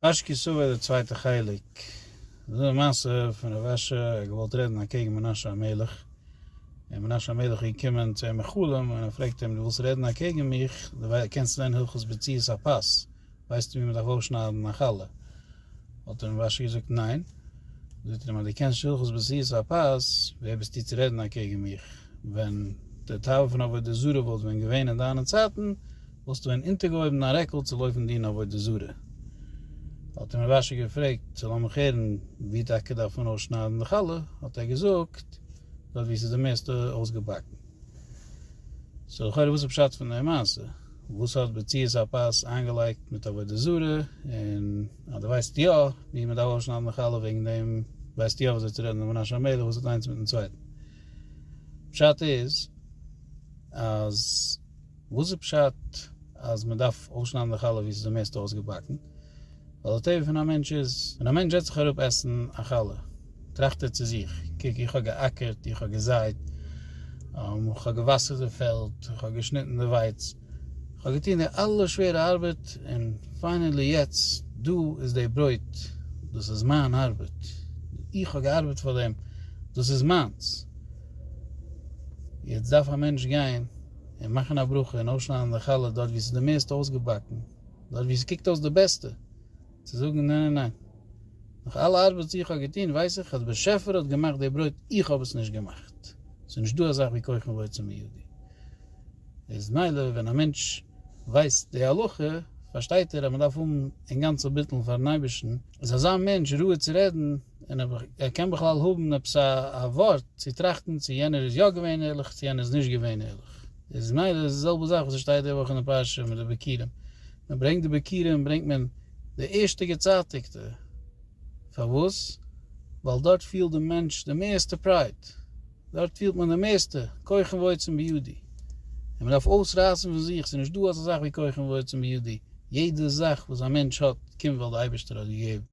אש כסוה די צווייטע חלק, דאס איז א מעשה פון רב אשר ער האט געוואלט רעדן אקעגן מנשה המלך, און מנשה המלך איז געקומען צו אים אין חלום און ער פרעגט אים דו ווילסט רעדן אקעגן מיך, דו קענסט לערנען הלכות בציאות הפס, ווייסטו ווי מען דארף אויסשניידן א חלה? האט אים רב אשר געזאגט ניין, זאגט ער אים אז דו קענסט נישט הלכות בציאות הפס, ווער ביסטו צו רעדן אקעגן מיך, ווען די תאווה פון עבודה זרה וואלט ווען געווען אין דיינע צייטן, וואלסטו ווען אונטערגעהויבן דיין רעקל צו לויפן דין עבודה זרה? האט אים רבש ע געפרעגט, צו לאמיך הערן ווי טאקע דארף מען אויסשניידן די חלה, האט ער געזאגט, דארט ווי ס'איז די מערסטע אויסגעבאקן. סאו לכאורה וואס איז פשט פון די מעשה? וואס האט בציעות הפת איינגעלייגט מיט עבודה זרה? און אז דו ווייסט יא ווי מ'דארף אויסשניידן די חלה וועגן דעם ווייסטו יא וויאזוי צו רעדן דעם מנשה המלך וואס האט איינס מיטן צווייטן. פשט איז אז. וואס איז פשט אז מען דארף אויסשניידן די חלה ווי עס איז די מערסטע אויסגעבאקן? ווייל די טבע פון א מענטש איז ווען א מענטש זעצט זיך אראפ עסן א חלה טראכט ער צו זיך, קוק איך האב געאקערט, איך האב געזייט, איך האב געוואסערט די פעלד, איך האב געשניטן די ווייץ, איך האב געטון די אלע שווערע ארבעט, און פיינעלי יעצט דא איז די ברויט, דאס איז מיין ארבעט, איך האב געארבעט פאר דעם, דאס איז מיינס. יעצט דארף א מענטש גיין. און מאכן א ברכה און אויסשניידן די חלה דארט ווי ס'איז די מערסטע אויסגעבאקן, דארט ווי ס'קוקט אויס די בעסטע, צו זאגן ניין ניין ניין, נאך אלע ארבעט וואס איך האב געטון ווייס איך אז באשעפער האט געמאכט די ברויט איך האב עס נישט געמאכט, ס'איז נישט דא אזאך ווי כוחם ועוצם בידי, איז מילא ווען א מענטש ווייסט די הלכה פארשטייט ער אז מ'דארף האבן אינגאנצן בטלן פארן אייבערשטן, איז אזא מענטש ראוי צו רעדן. און אויב ער קען בכלל האבן עפעס א ווארט צו טראכטן צו יענער איז יא געווען ערליך צו יענער איז נישט געווען ערליך. איז מילא איז די זעלבע זאך וואס עס שטייט די וואך אין די פרשה מיט די ביכורים. מען ברענגט די ביכורים ברענגט מען די ערשטע געצייטיגטע. פארוואס? ווייל דארט פילט די מענטש די מערסטע פרייד. דארט פילט מען די מערסטע כחם ועוצם בידי. און מען דארף אויסרייסן פון זיך, ס'איז נישט דא אזא זאך ווי כחם ועוצם בידי. יעדע זאך וואס א מענטש האט קומט ווייל די אייבערשטער האט געגעבן.